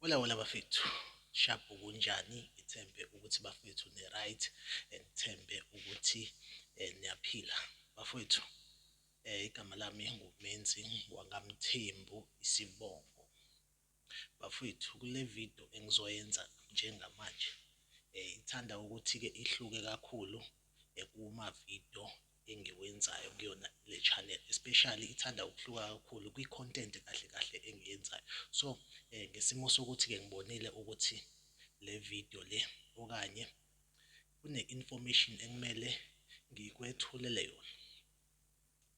Hola hola bafethu shabu kunjani ngithembe ukuthi bafethu ne right ngithembe ukuthi eh, niyaphila bafethu Igama lami nguMenzi wakaMthembu isibongo. Bafwethu kule video engizoyenza njengamanje ithanda ukuthi-ke ihluke kakhulu kuma-video engiwenzayo kuyona le channel especially ithanda ukuhluka kakhulu kwi-content kahle kahle engiyenzayo. So ngesimo sokuthi-ke ngibonile ukuthi le video le okanye kune-information ekumele ngikwethulele yona.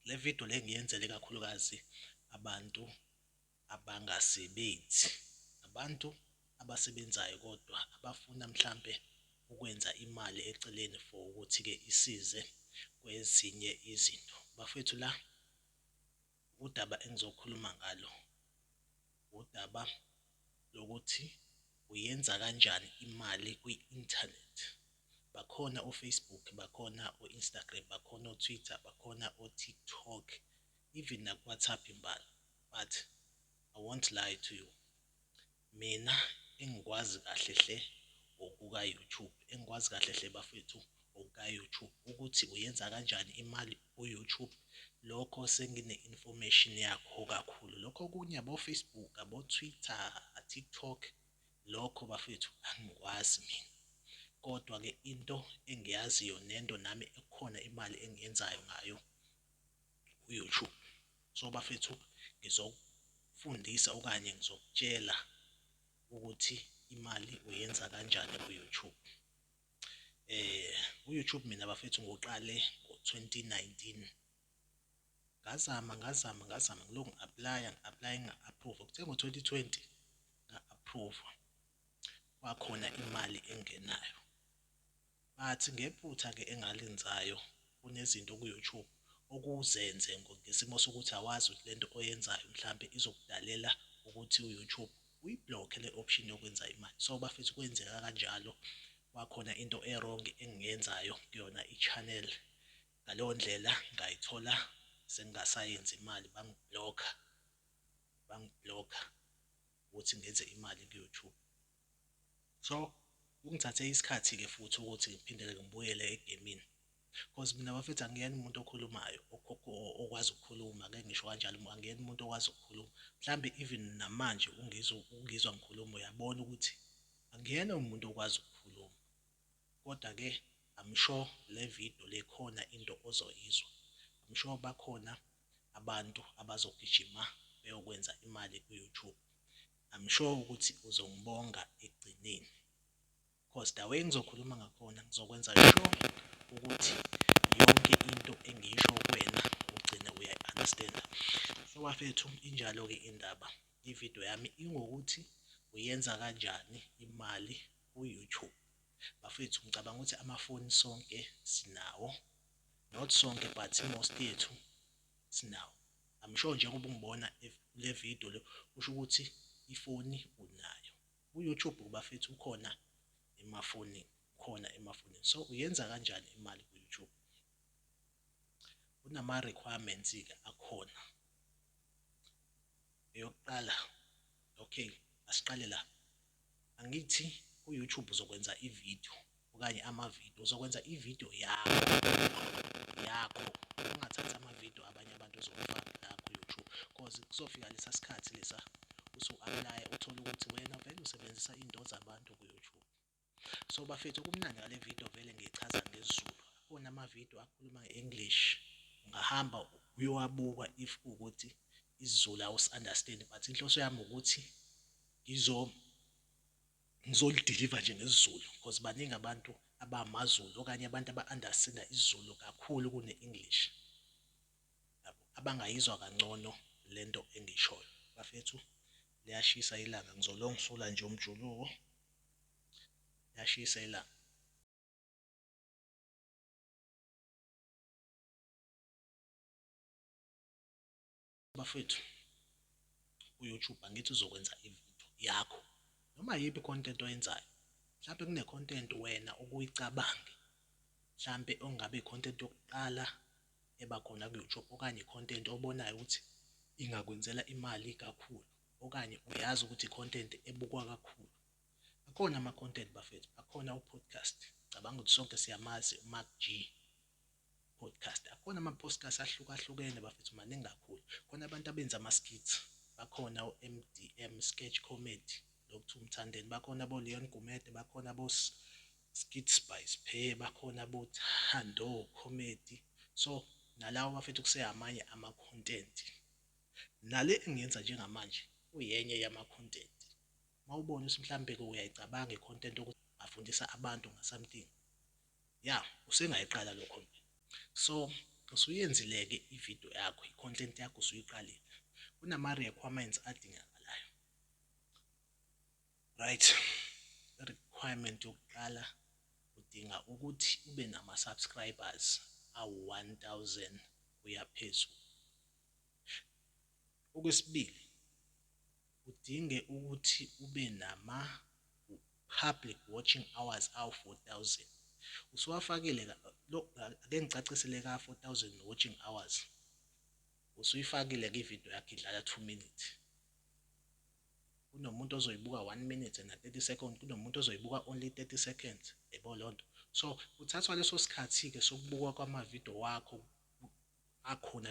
Le video le ngiyenzele kakhulukazi abantu abangasebenzi, abantu abasebenzayo kodwa abafuna mhlampe ukwenza imali eceleni for ukuthi-ke isize kwezinye izinto. Bafethu la Udaba engizokhuluma ngalo udaba lokuthi uyenza kanjani imali kwi-inthanethi. Bakhona o-Facebook, bakhona o-Instagram, bakhona o-Twitter, bakhona o-TikTok even naku-WhatsApp imbala but I won't lie to you. Mina engikwazi kahle hle ngokuka YouTube engikwazi kahle hle bafethu ngokuka YouTube ukuthi uyenza kanjani imali ku YouTube lokho sengine information yakho kakhulu. Lokho okunye abo Facebook abo Twitter, TikTok lokho bafethu angikwazi mina. Kodwa ke into engiyaziyo nento nami ekhona imali engiyenzayo ngayo. uyoutube so bafethu ngizokufundisa okanye ngizokutshela ukuthi imali uyenza kanjani ku-youtube eh u-youtube mina bafethu ngoqale ngo-2019 ngazama ngazama ngazama ngilokhu ngi-aplaya ngi-aplaya ngi-approve kuthe ngo-2020 nga-approve kwakhona imali engenayo Bathi ngephutha ke engalenzayo kunezinto ku YouTube okuzenze ngesimo sokuthi awazi ukuthi lento oyenzayo mhlampe izokudalela ukuthi u YouTube uyi block le option yokwenza imali so bafethu kwenzeka kanjalo kwakhona into e wrong engiyenzayo kuyona i channel ngaleyo ndlela ngayithola sengingasayenzi imali bangi block bangi block ukuthi ngenze imali ku YouTube. So kungithathe isikhathi-ke futhi ukuthi ngiphindele ngibuyele egemini cause mina bafethu angiyena umuntu okhulumayo okwazi ukukhuluma ngeke ngisho kanjalo angiyena umuntu okwazi ukukhuluma. Mhlambe even namanje ungizwa ungizwa ngikhuluma uyabona ukuthi angiyena umuntu okwazi ukukhuluma. Kodwa-ke I'm sure le video le khona into ozoyizwa. I'm sure bakhona abantu abazogijima beyokwenza imali ku-YouTube I'm sure ukuthi uzongibonga ekugcineni cause the way ngizokhuluma ngakhona ngizokwenza sure ukuthi yonke into engiyisho kuwena ugcine uyayi-understanda so bafethu injalo-ke indaba ividiyo yami ingokuthi uyenza kanjani imali ku-youtube bafethu ngicabanga ukuthi amafoni sonke sinawo not sonke but most yethu sinawo I'm sure njengoba ungibona kule video le kusho ukuthi ifoni unayo ku-YouTube kubafethu ukhona emafonini khona emafonini so uyenza kanjani imali ku-YouTube kunama requirements ke akhona eyokuqala okay asiqale la angithi ku-YouTube uzokwenza ivideo okanye amavidiyo uzokwenza ividiyo yakho yakho ungathathi amavidiyo abanye abantu ozowafaka la ku-youtube cause kuzofika lesa sikhathi lesa usu-aplaya uthole ukuthi wena vele usebenzisa iy'nto zabantu ku-youtube so bafethu okumnandi ngale vidiyo vele ngiyichaza ngezulu onamavidiyo akhuluma nge-english ungahamba uyowabuka if ukuthi isizulu awusi-understand but inhloso yami ukuthi ngizo ngizolidiliva nje ngesiZulu because baningi abantu abamaZulu okanye abantu aba-understanda isiZulu kakhulu kune-English abangayizwa kangcono le nto engiyishoyo bafethu liyashisa ilanga ngizolongisula nje umjuluko liyashisa ilanga Bafethu uYouTube angithi uzokwenza ivideo yakho noma yiphi content oyenzayo mhlampe kune content wena obuyicabange mhlampe ongabe content yokuqala eba khona kuYouTube okanye content obonayo ukuthi ingakwenzela imali kakhulu okanye uyazi ukuthi content ebukwa kakhulu akhona ama content bafethu akhona u podcast cabanga ukuthi sonke siyamazi uMac G Podcast akhona ama postcast ahlukahlukene bafethu maningi kakhulu khona abantu abenza ama skits bakhona o MDM sketch comedy Dr Mthandeni bakhona bo Leon Gumede bakhona bo Skit Spice Phe bakhona bo Thando comedy so nalawo bafethu kuseyamanye ama content nale engiyenza njengamanje kuyenye yama content mawubona ukuthi mhlambe ke uyayicabanga i content ukuthi afundisa abantu nga something Ya usengayiqala lo content. So usuyenzile-ke i-video yakho, i-content yakho usuyiqalile. Kunama-requirements adingakalayo. Right. I-requirement yokuqala udinga ukuthi ube nama-subscribers awu-1000 kuya phezulu. Okwesibili, udinge ukuthi ube nama-public watching hours awu-4000. Usuwafakile lo ake ngicacisele ka-4000 watching hours. Usuyifakile-ke ividiyo yakhe idlala 2 minutes. Kunomuntu ozoyibuka 1 minute na 30 seconds, kunomuntu ozoyibuka only 30 seconds. Yebo leyo nto. So kuthathwa leso sikhathi-ke sokubukwa kwamavidiyo wakho akhona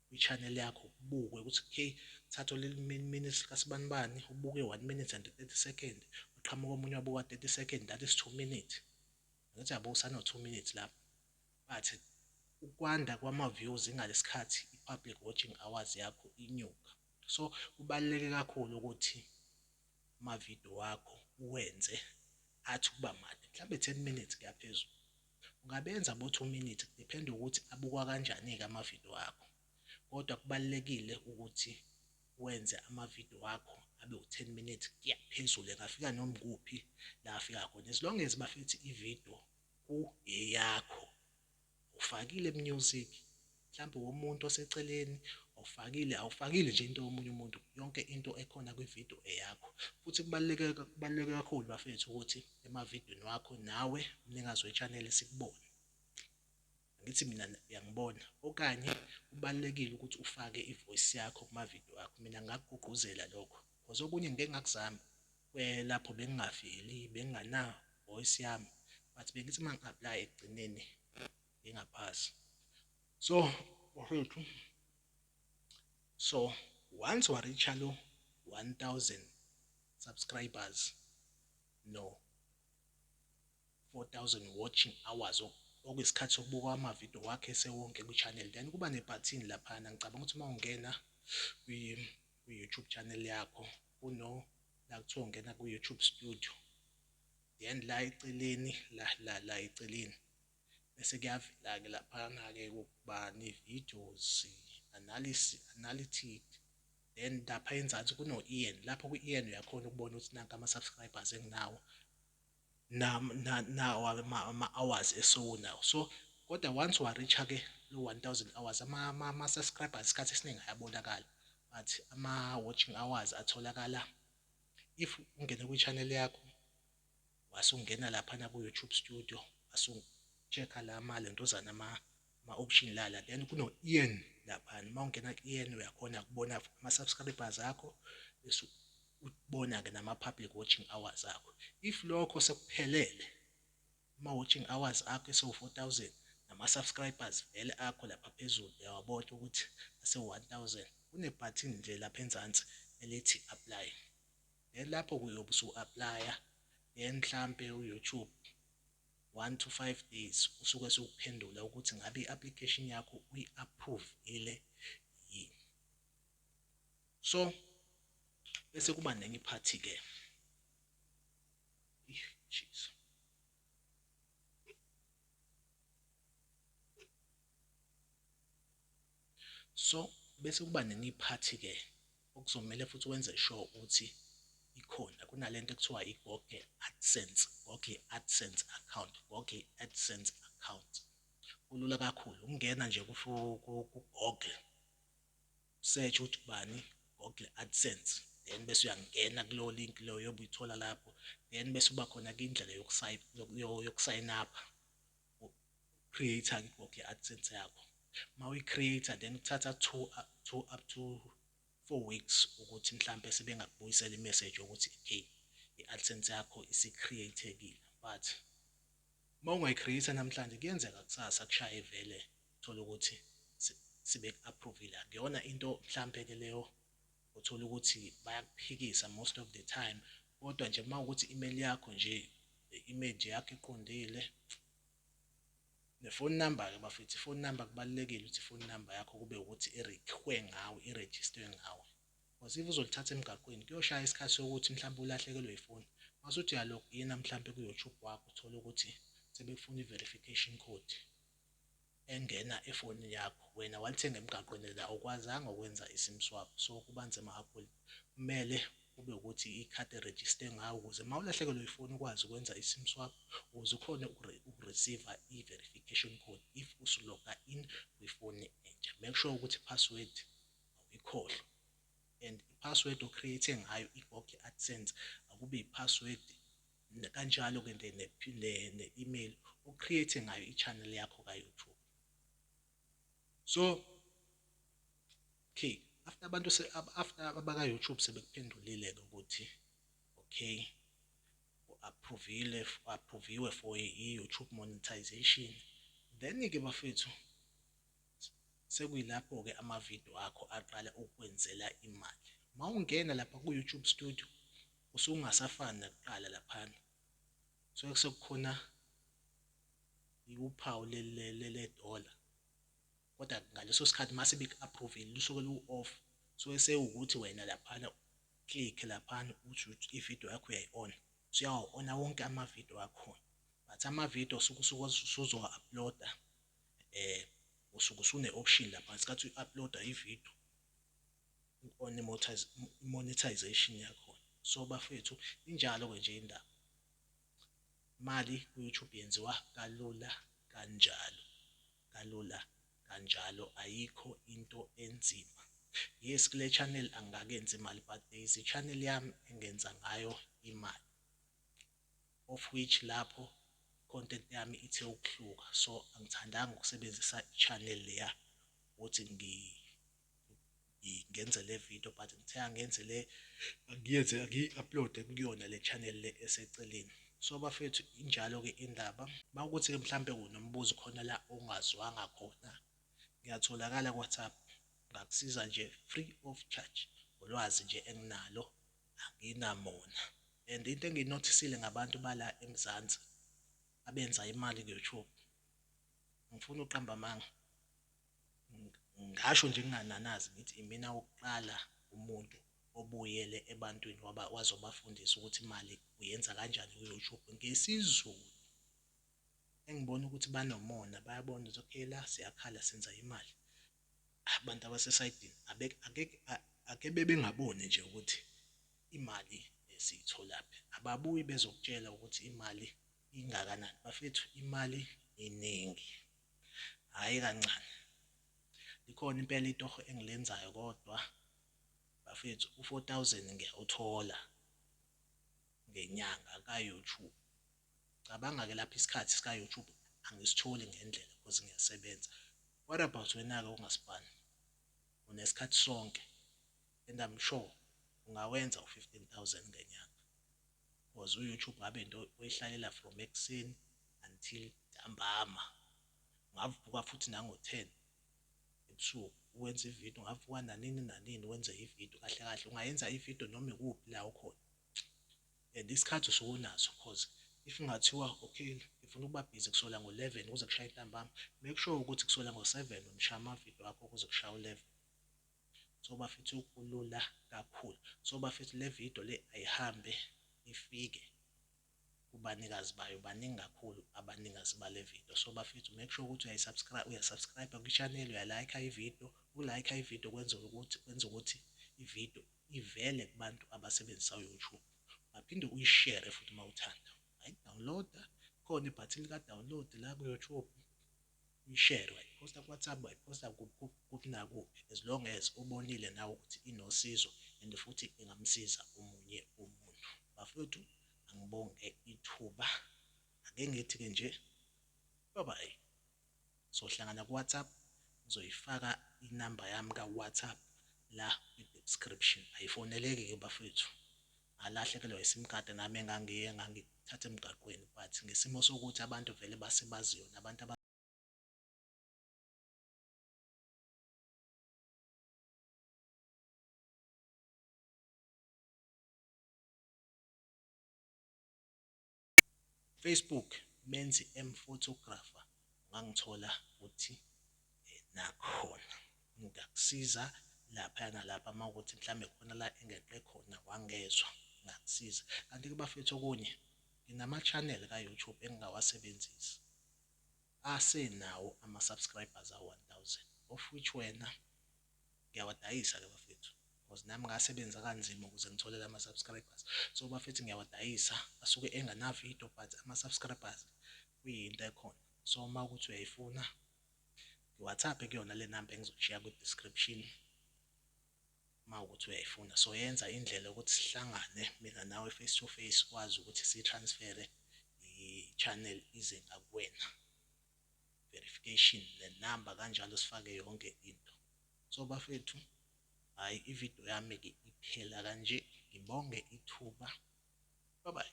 kwi-channel yakho kubukwe ukuthi okay thatha leli minutes likasibanibani ubuke one minute and 30 second uqhamuka omunye wabuka 30 second that is two minutes ngathi yabo usano two minutes lapho but ukwanda kwama-views ingalesikhathi i-public watching hours yakho inyuka so kubaluleke kakhulu ukuthi amavidiyo wakho uwenze athi ukuba made mhlawumbe 10 minutes kuyaphezulu Ungabenza bo two minutes kudependa ukuthi abukwa kanjani-ke amavidiyo akho. Kodwa kubalulekile ukuthi wenze amavidiyo wakho abe u-ten minutes kuya phezulu engafika noma kuphi la afika khona as long as bafethi ividiyo kuyeyakho ufakile music mhlampe womuntu oseceleni awufakile awufakile nje into yomunye umuntu yonke into ekhona kwi video eyakho futhi kubaluleke kubaluleke kakhulu bafethu ukuthi ema videweni wakho nawe umnikazi we channel sikubone ngithi mina uyangibona okanye kubalekile ukuthi ufake ivoice yakho kuma video akho mina ngakugqugquzela lokho because okunye ngeke ngakuzama kwelapho bengingaveli bengingana voice yami but bengithi uma ngi-apply ekugcineni ingaphasi so bafethu so once wareacha lo 1000 subscribers no 4000 watching hours okuyisikhathi sokubuka amavidiyo wakhe sewonke kwi-channel then kuba nebhathini laphana ngicabanga ukuthi uma ungena kwi-youtube channel yakho kuno la kuthiwa ungena kwi-youtube studio then la eceleni la la la eceleni bese kuyavela-ke laphana-ke ukuba ne-videos, analysis, analytic then lapha enzansi kuno-ian lapho ku-ian uyakhona ukubona ukuthi nanka ama-subscribers enginawo nawo ama-hours esiwunawo so kodwa once wa-reach-a-ke lo one thousand hours ama-subscribers isikhathi esiningi ayabonakala but ama-watching hours atholakala if ungene kwi-channel yakho wasungena laphana ku YouTube studio wasu check la ma lentozana ma ma option lala then kuno earn laphana uma ungena ku earn uyakhona kubona ama subscribers akho bese ubona ke nama public watching hours akho if lokho sekuphelele ama watching hours akho esewu 4000 nama subscribers vele akho lapha phezulu uyawabona ukuthi ase 1000 kune button nje lapha enzansi elithi apply Then lapho ke uyobe usu aplaya then mhlampe u YouTube one to five days usuke sewukuphendula ukuthi ngabe i application yakho uyi approvile yini. So bese kuba nenye iphathi ke. Jeez. So bese kuba nenye iphathi ke Okuzomele futhi wenze sure ukuthi ikhona kunalento ekuthiwa i-Google AdSense, Google AdSense account, Google AdSense account. Kulula kakhulu ukungena nje ku-Google search ukuthi ubani Google AdSense then bese uyangena kulowo link loyo obuyithola lapho then bese uba khona ke indlela yokusayina yokusayina apha creator ke ngoku i-AdSense yakho uma uyi-creator then kuthatha two, two up to four weeks ukuthi mhlampe sebengakubuyisela i-message yokuthi okay i-AdSense yakho isi-createkile but uma ungayi-creator namhlanje kuyenzeka kusasa kushaye vele thole ukuthi sibeku-approvile akuyona into mhlampe-ke leyo Uthole ukuthi bayakuphikisa most of the time kodwa nje uma ukuthi email yakho nje ne image yakho iqondile ne phone number ke bafethu phone number kubalekile ukuthi phone number yakho kube ukuthi irekhwe ngawe iregister ngawe because if uzolithatha emgaqweni kuyoshaya isikhathi sokuthi mhlawumbe ulahlekelwe ifoni masuthi uyalog ina mhlawumbe ku YouTube wakho uthole ukuthi sebekufuna i verification code engena efonini yakho wena walithenga emgaqweni la awukwazanga ukwenza isim swap so kuba nzima kakhulu kumele kube ukuthi ikhadi erejiste ngawo ukuze uma ulahlekelwe ifoni ukwazi ukwenza isim swap ukuze ukhone ukureceive i-verification code if usuloga in kwifoni entsha make sure ukuthi i-password awuyikhohlwa and i-password o-create ngayo i-gog adsense akube i-password kanjalo ke ne ne email o create ngayo i channel yakho ka YouTube so okay after abantu se after abaka YouTube sebekuphendulile ke ukuthi okay approvile approviwe for i YouTube monetization then ke bafethu Sekuyilapho-ke ama-video akho aqala ukukwenzela imali. Uma ungena lapha ku-YouTube Studio, usungasafani nakuqala laphana. Kusuke sekukhona uphawu le-dollar. Kodwa ngaleso sikhathi uma sebeku-approve-ile, lusuke lu-off. Kusuke sewukuthi wena laphana u-click-e laphana uthi ukuthi i-video yakho uyayi-on-a. Usuyawa-on-a wonke ama-video akhona. But ama-video osuke usuzowa-upload-a eh usuke usune option lapha ngesikhathi uyi uploader i video u on monetization yakho so bafethu injalo ke nje indaba imali ku YouTube yenziwa kalula kanjalo kalula kanjalo ayikho into enzima yes kule channel angakenzi imali but there is a channel yami engenza ngayo imali of which lapho content yami ithe ukuhluka so angithandanga ukusebenzisa channel leya ukuthi ngi ngenze le video but ngithe angenze le ngiyenze ngiyi-uploade kuyona le channel le eseceleni so bafethu injalo-ke indaba uma ukuthi-ke mhlawumbe kunombuzo khona la ongazwanga khona ngiyatholakala ku-whatsapp ngakusiza nje free of charge ngolwazi nje enginalo anginamona and into enginothisile ngabantu bala eMzansi abenza imali ku-YouTube ngifuna uqamba amanga ngasho nje ngingananazi ngithi imina wokuqala umuntu obuyele ebantwini waba wazobafundisa ukuthi imali uyenza kanjani ku-YouTube ngesiZulu engibona ukuthi banomona bayabona ukuthi okay la siyakhala senza imali Abantu abasesayidini ake bebengaboni nje ukuthi imali siyitholaphi, ababuyi bezokutshela ukuthi imali ingakanani. Bafethu imali iningi, hhayi kancane. Likhona impela itoho engilenzayo kodwa bafethu u-four thousand ngiyawuthola ngenyanga ka-YouTube. Cabanga ke lapho isikhathi sika YouTube angisitholi ngendlela cause ngiyasebenza. What about wena ke ongaspan? Unesikhathi sonke and I'm sure ungawenza u 15000 ngenyanga. Cause u YouTube ngabe into oyihlalela from ekuseni until ntambama. Ungavuka futhi nango 10 ebusuku uwenza ividiyo ungavuka nanini nanini wenze ividiyo kahle kahle ungayenza ividiyo noma ikuphi la ukhona and isikhathi usuke unaso cause if kungathiwa okay ngifuna ukuba busy kusola ngo-11 kuze kushaye intambama make sure ukuthi kusola ngo-7 umshaya amavidiyo akho kuze kushaya u-11 so bafethu kulula kakhulu so bafethu le video le ayihambe ifike kubanikazi bayo baningi kakhulu abanikazi bale video so bafethu make sure ukuthi uyayisubscribe uyasubscribe kwi-channel uyalike ivideo ukulike ivideo kwenza ukuthi kwenza ukuthi ivideo ivele kubantu abasebenzisa uYouTube baphinde uyishere futhi uma uthanda ungayidawuniloda khona ibhathini lika download la kuYouTube uyishere wayiphosta kuWhatsApp wayiphosta kuphi nakuphi as long as ubonile nawe ukuthi inosizo and futhi ingamsiza omunye umuntu bafethu angibonge ithuba ake ngithi-ke nje bye bye sohlangana kuWhatsApp ngizoyifaka inamba yami kaWhatsApp la kwi-description ayifoneleki ke bafethu ngalahlekelwa iSIM card nami engangiye ngangithatha emgaqweni but ngesimo sokuthi abantu vele basebaziyo nabantu Facebook menzi am photographer ungangithola futhi nakhona ngingakusiza lapha nalapha uma ukuthi mhlawumbe khona la engeqe khona wangezwa ngakusiza kanti-ke bafethu okunye nginama-channel ka-youtube engingawasebenzisi asenawo ama-subscribers awu-one thousand of which wena ngiyawadayisa ke bafethu because nami ngasebenza kanzima ukuze ngithole lama subscribers so bafethu ngiyawadayisa asuke engana video but ama subscribers kuyinto ekhona so uma ukuthi uyayifuna ngiwhatsapp kuyona le number engizoshiya kwi description uma ukuthi uyayifuna so yenza indlela yokuthi sihlangane mina nawe face to face kwazi ukuthi si transfere i channel ize ngakuwena verification nenamba kanjalo sifake yonke into so bafethu hayi ividiyo yami ke iphela kanje ngibonge ithuba bye bye